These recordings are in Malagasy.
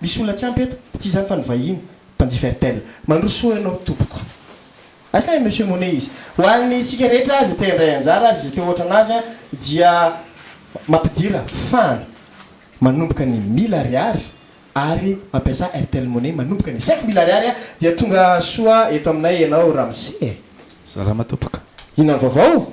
Misy olona tsy ampy eto? Tsy izany fa ny vahiny mpanjifa Airtel. Mandroso soa ianao tompoko. Asa i Monsieur Monet izy? Ho an'ny isika rehetra izay te handray anjara ary izay te ho ohatran'azy dia mampidira fan manomboka ny mille ariary ary mampiasa Airtel Money manomboka ny cinq mille ariary dia tonga soa eto aminay ianao ramose e! Salama tompoko. Inona ny vaovao?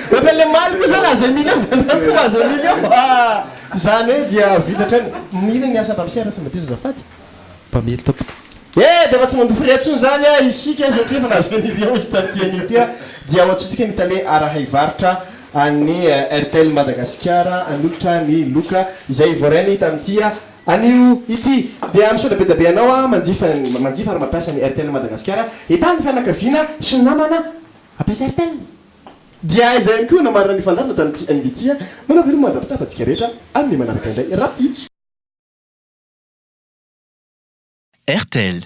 Ohatra le maly koa zany aza mily eo anao koa aza mily eo fa zany hoe dia vita hatrany. Inona ny asa an-dRamose raha tsy mba diso azafady? Mpamily tompoko. Eh dia efa tsy mandoa frais intsony zany ah isika satria efa nahazo an'io dia hozy tamin'ity anio ity ah dia ho antsointsika ny tale arahay varotra an'ny Airtel Madagasikara hanolotra ny loka izay voarainy tamin'ity anio ity. Dia misaotra be dia be anao ah manjifa manjifa ary mampiasa ny Airtel Madagasikara. Entaho ny fianakaviana sy ny namana hampiasa Airtel. Dia aiza ihany koa no marina ny fandarina tany CNBC a? Manao veloma mandra-pitafa antsika rehetra ary ny manaraka indray rapids. Airtel.